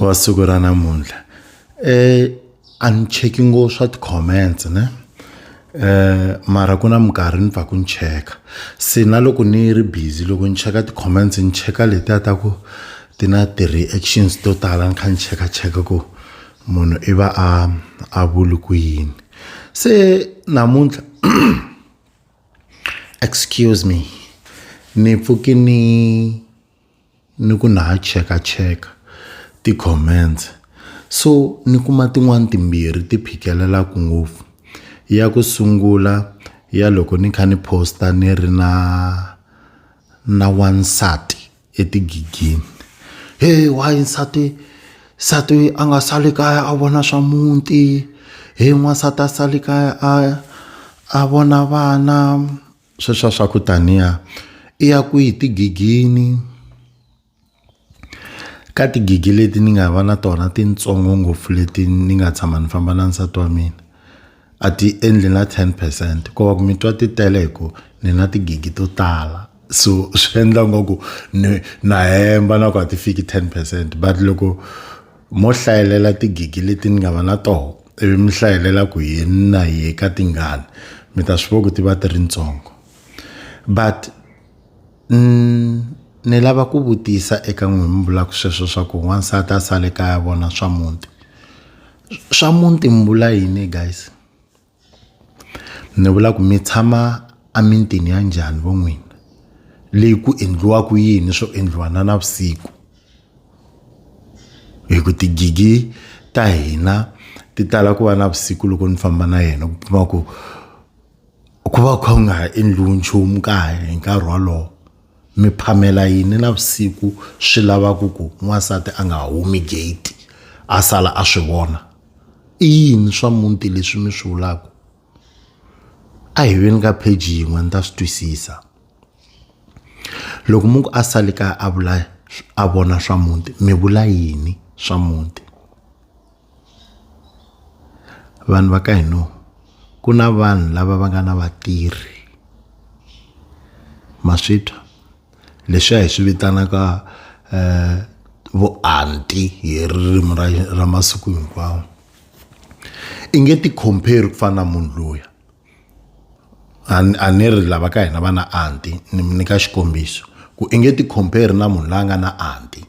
wa siku ra namuntlha eh a ni cheki ngo swa ti-comments ne eh mara ku na minkarhi ni pfaku ni cheka se na loko ni ri busy loko ni cheka ti-comments ni cheka letiya ta ku ti na ti-reactions to tala ni kha ni cheka cheka ku munhu i va a a vuli ku yini se namuntlha excuse me ni pfuki ni ni ku na ha cheka cheka ti-comments so ni kuma tin'wani timbirhi ti phikelelaku ngopfu ya ku sungula ya loko ni kha ni post-a ni ri na na wansati etigigini he why nsati nsati a nga sali kaya a vona swa muti he n'wansati a sali kaya a a vona vana sweswiya swa ku taniya i ya kwihi tigigini ka tigigi leti ni nga va na tona tintsongo ngopfu leti ni nga tshama ni famba na nsati wa mina a ti endli na ten percent ko va ku mi twa ti tele hi ku ni na tigigi to tala so swi endla ngaku ni na hemba na ku a ti fiki ten percent but loko Mo hlayelela tigigi leti ni nga va na toho ivi mi hlayelela ku hi na hi eka tingani mi ta swi vona ku ti va ti ri ntsongo but ni lava ku vutisa eka n'wina mi vulaka sweswo swa ku n'wansati a sale kaya vona swa muti swa muti mi vula yini guys. ni vula ku mi tshama emintini ya njhani vo n'wina leyi ku endliwaka yini swo endliwa na navusiku hi ku tigigi ta hina ti tala ku va navusiku loko ni famba na yena ku kuma ku ku va ku kha ku nga ha endliwi nchumu kaya hi nkarhi wolowo. Mi phamela yini navusiku swi lava ku ku n'wansati a nga humi gate a sala a swi vona i yini swa muti leswi mi swi vulaka a hi veni ka page yin'we ni ta swi twisisa loko munhu a sale kaya a vula a vona swa muti mi vula yini swa muti. vanhu va ka hino ku na vanhu lava va nga na vatirhi ma swi twa leswiya hi swi vitanaka um vuanti hi ririmi ra ra masiku hinkwawo i nge ti compare ku fana na munhu luya a ni a ni ri lava ka hina va na anti ni mi nyika xikombiso ku i nge ti compare na munhu la nga na anti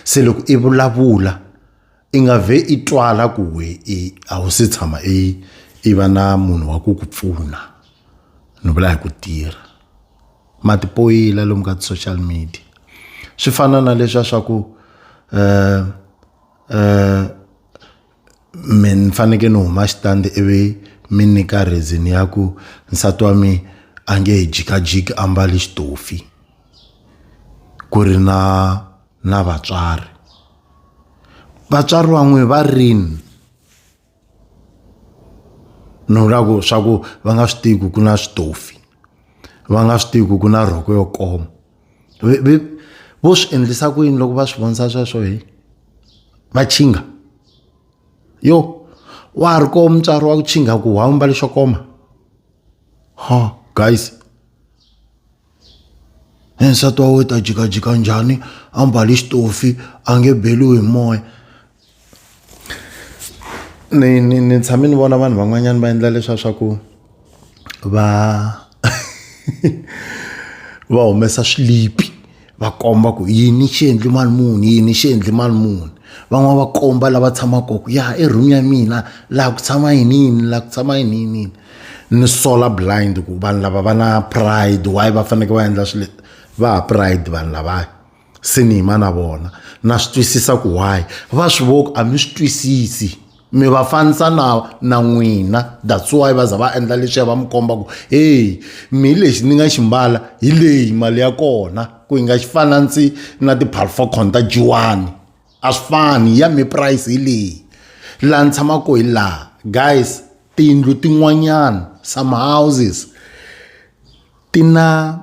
se loko i vulavula. i nga vhe i twala ku we i a wu se tshama i i va na munhu wa ku ku pfuna ni vula hi ku tirha matipoyila lomu ka ti-social media swi fana na leswa swa ku um um mi ni fanekele ni huma xitandi ivi mi nyika reason ya ku nsati wa mi a nge he jikajiki a mbale xitofi ku ri na na vatswari vatswari van'we va rini ni vula ku swa ku va nga swi tivi ku ku na switofi va nga swi tivi ku ku na rhoko yo koma vo swi endlisa ku yini loko va swi vonisa sweswo hi va chinga yo wa ha ri koho mutswari wa ku chinga ku wa mbale xo koma ha guys. Hi nsati wa wena u ta jikajika njhani a mbale xitofi a nge beriwi hi moya ni ni ni tshame ni vona vanhu van'wanyana va endla leswa swa ku va va humesa swilipi va komba ku yini xi endli mali muni yini xi endli mali muni van'wani va komba lava tshamaka kona ku ya i room ya mina laha ku tshama yini yini laha ku tshama yini yini yini. ni solar blind ku vanhu lava va na pride why va fanekele va endla swilo va ha pride vanhu lavaya se ni yima na vona na swi twisisa ku why va swi voku a mi swi twisisi mi va fanisa na na n'wina that's why va za va endla leswiya va mi komba ku heyi mi hi lexi ni nga xi mbala hi leyi mali ya kona ku yi nga xi fana ndzi na ti-palfocon ta jiwani a swi fani ya mi price hi leyi laha ni tshamaka hi laha guys Tiyindlu tin'wanyana some houses ti na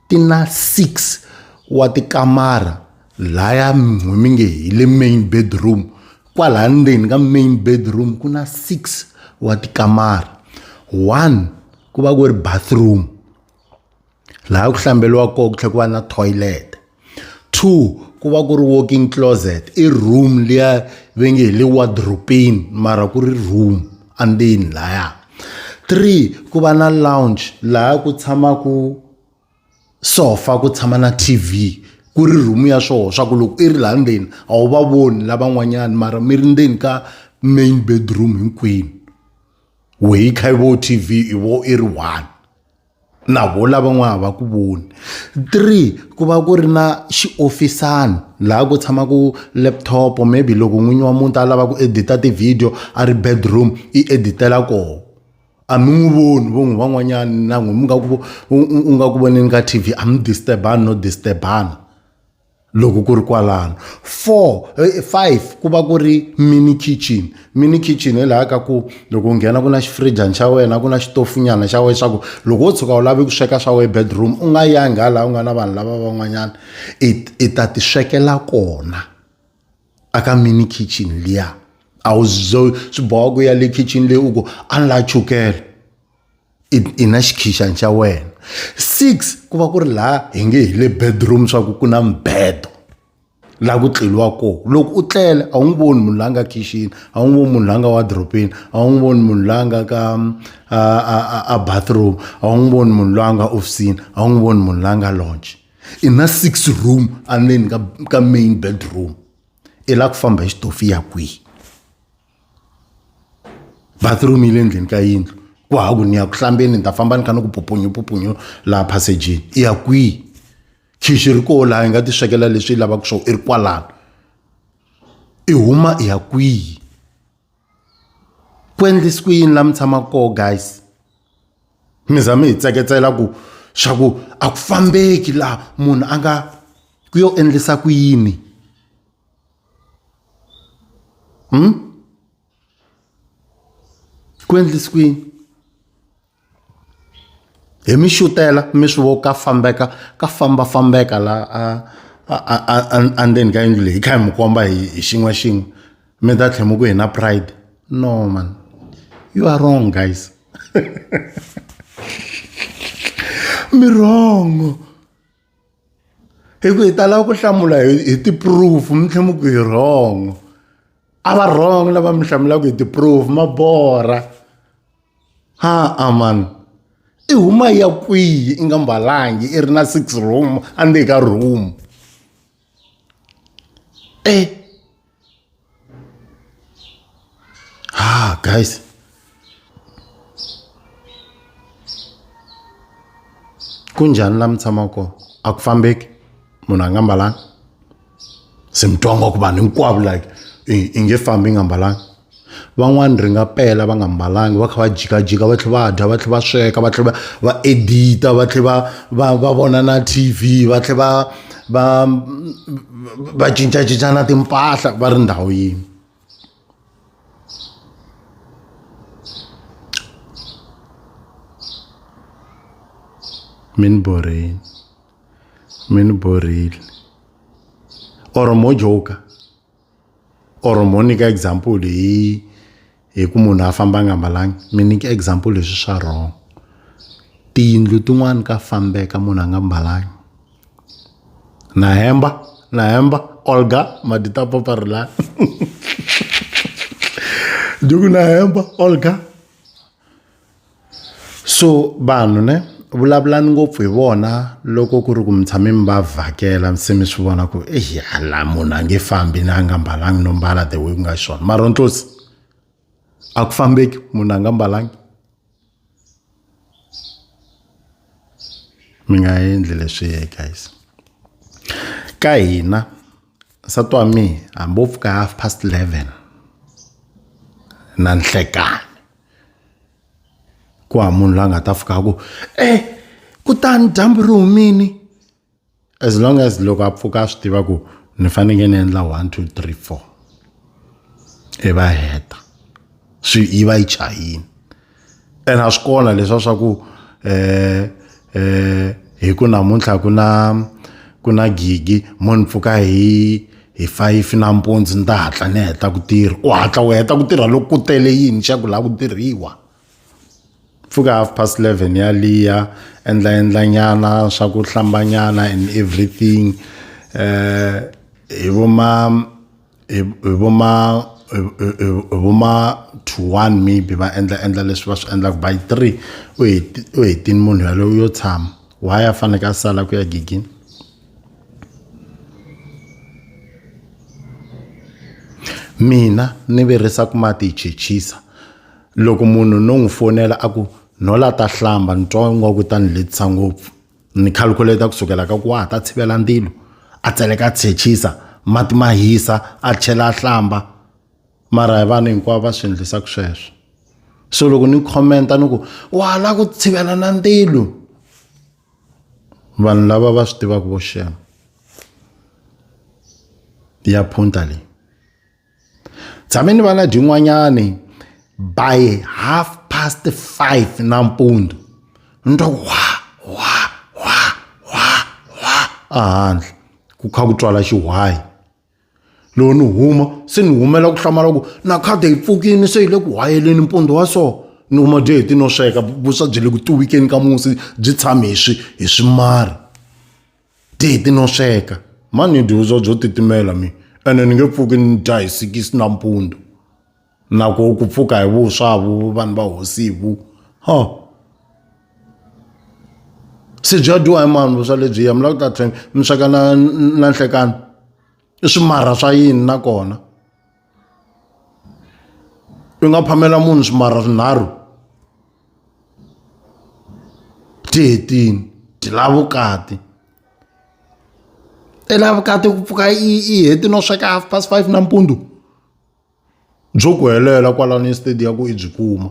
ti na six wa tikamara laya n'wina mi nge hi le main bedroom kwalaya ndzeni ka main bedroom ku na six wa tikamara one ku va ku ri bathroom. laha ku hlambeliwa kona ku tlhela ku va na toilet two ku va ku ri walking closet i room liya ve nge hi le wardropini mara ku ri room andzeni laya three ku va na lounge laha ku tshamaka sofa ku tshama na tv ku ri room ya swona swa ku loko i ri laha ndzeni a wu va voni lavan'wanyani mara mi ri ndzeni ka main bedroom hinkwenu wehe yi kha yi vo tv i vo i ri one. na vo lava n'wa ha va ku voni three ku va ku ri na xiofisana laha ku tshamaka laptop maybe loko n'winyi wa muti a lava ku edit-a ti-video a ri bedroom i edit-ela kona a mi n'wi voni vo n'wi van'wanyani na n'wina mi nga ku u nga ku voneni ka T_V a mi disturb-ani no disturb-ana. Loko ku ri kwalano four eh, five ku va ku ri mini kitchen mini kitchen hi laha ka ku loko u nghena ku na xifrijani xa wena ku na xitofunyana xa wena leswaku loko wo tshuka u lave ku sweka swa wena bedroom u nga yangi ha laha u nga na vanhu lava van'wanyana i i ta ti swekela kona aka mini kitchen liya a wu swi boha ku ya le kitchen leyi u ku a ni la chukele i i na xikhixani xa wena six ku va ku ri laha hi nge hi le bedroom swa ku ku na mibedo laha ku tleliwa kona loko u tlele a wu n'wi voni munhu la nga khixini a wu n'wi voni munhu la nga wadropini a wu n'wi voni munhu la nga ka a a a a bathroom a wu n'wi voni munhu la nga ofisini a wu n'wi voni munhu la nga launch i na six room endzeni ka ka main bedroom i la ku famba hi xitofu ya kwihi bathroom yi le ndzeni ka yindlu ku ha ku ni ya ku hlambeni ni ta famba ni kha ni ku pupunyu pupunyu laha passageni i ya kwihi khixi ri koho laha hi nga ti swekela leswi yi lavaka swona i ri kwalano i huma i ya kwihi ku endlisi ku yini laha mi tshamaka koho guys mi za mi hi tseketsela ku swa ku a ku fambeki laha munhu a nga ku yo endlisa ku yini Hmm? Ku endlise ku yini? Hi mi xutela mi swi vo ka fambeka ka fambafambeka la a a a a endzeni ka yindlu leyi hi kha hi mi komba hi hi xin'we xin'we mi ta tlhela mi ku hi na pride no man you are wrong guys mi wrong. hi ku hi tala ku hlamula hi hi ti-proof mi tlhe mi ku hi wrong a va wrong lava mi hlamulaka hi ti-proof ma borha ha a mani i huma ya kwihi i nga mbalangi i ri na six room a ndzeni ka room eh ah guys kunjhani la mi tshamaka kona a ku fambeki munhu a nga mbalanga se mi twa nga ku vanhu hinkwavo like i nge fambi i nga mbalanga Van'wani ri nga pela va nga mbalanga va kha va jikajika va tlhela va dya va tlhela va sweka va tlhela va va edit-a va tlhela va va va vona na T_V va tlhela va va va cincacinca na timpahla va ri ndhawu yin'we mi ni borheni mi ni borheli or mo joker. or mo nyika example hi hi ku munhu a famba nga mbalangi mi nyika example leswi swa wrong tiyindlu tin'wani ka fambeka munhu a nga mbalangi na hemba na hemba olga madi ta paparilani dyi ku na hemba olga So vanhu ne vulavulani ngopfu hi vona loko ku ri ku mi tshame mi va vhakela se mi swi vona ku ey hala munhu a nge fambi na a nga mbalanga no mbala the way ku nga xiswona mara wa ni twisisa a ku fambeki munhu a nga mbalanga mi nga endli leswi guys ka hina nsati wa mina hambi wo pfuka half past eleven na nhlekani. ku hava munhu la nga ta fika ku e kutani dyambu ri humini as long as loko a pfuka a swi tiva ku ni fanekele ni endla one two three four i va heta swi yi va yi chayini ene a swi kona leswa swa ku um eh hi ku namuntlha ku na ku na gigi mo ni pfuka hi hi five nampundzu ni ta hatla ni heta ku tirha u hatla u heta ku tirha loko ku tele yini xa ku laha ku tirhiwa pfuka half past eleven yaliya endla endla nyana swa ku hlambanyana and everything um hi vo ma hi hi vo ma hi hi hi vo ma two one maybe va endla endla leswi va swi endlaka by three u heti u hetini munhu yaloye u yo tshama why a faneke a sala ku ya gigini mina ni virisa ku mati hi chechisa loko munhu no n'wi fonela a ku nhola ta hlamba ni twa ingaku ta ni letisa ngopfu ni calculate ku sukela ka ku wa ha ta tshivela ndilo a tseleka a tshechisa mati ma hisa a chela a hlamba mara hi vanhu hinkwavo va swi endlisaka sweswo so loko ni khomenta ni ku wa la ku tshivela na ndilo vanhu lava va swi tivaka vo xema ya phunta leyi tshame ni va na dyin'wanyani by half past five nampundzu ni twa ku wa wa wa wa wa ehandle ku kha ku twala xihwayi loko ni huma se ni humela ku hlamala ku na khadi yi pfukini se yi le ku hwayeleni mpundzu wa so ni huma byi heti no sweka vuswa byi le ku tiwikeni ka musi byi tshame hi swi hi swimari Titi no sweka. Ma ni dyuza byo titimela mi ene ni nge pfuki ni dya hi sikisi nampundzu. Na ku ku pfuka hi vuswa vu vanhu va hosi vu. Ha. Se bya dyiwa hi mani vuswa lebyiya mi lava ku ta tlhela mi sweka na na nhlekani? I swimarha swa yini nakona? u nga phamela munhu swimara swinharhu ti hetini ti lava vukati i lava vukati ku pfuka i i heti no sweka half past five nampundzu byo ku helela kwalano estadiya ku i byi kuma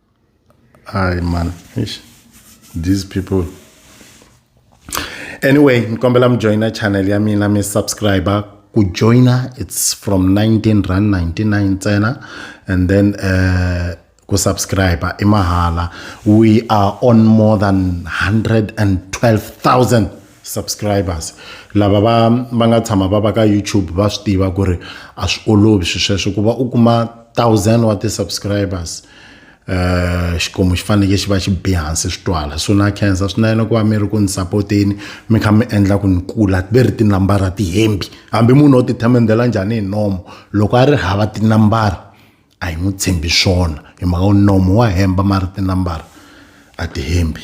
Hi man. Eish. These people. Anyway, nkombela mi joina channel ya mina mi subscriber ku joina it's from 19 rand 99 ntsena and then uh, ku subscribe i mahala we are on more than 112000 subscribers lava va va nga tshama va va ka youtube va swi tiva ku ri a swi olovi swi sweswo ku va u kuma thousand wa ti-subscribers um xikwembu xi faneleke xi va xi bi hansi swi twala so na khensa swinene ku va mi ri ku ni sapoteni mi kha mi endla ku ni kula ve ri tinambara tihembi hambi munhu o ti themendela njhani hi nomo loko a ri hava tinambara a hi n'wi tshembi swona hi mhaka nomo wa hemba ma ri tinambara a tihembi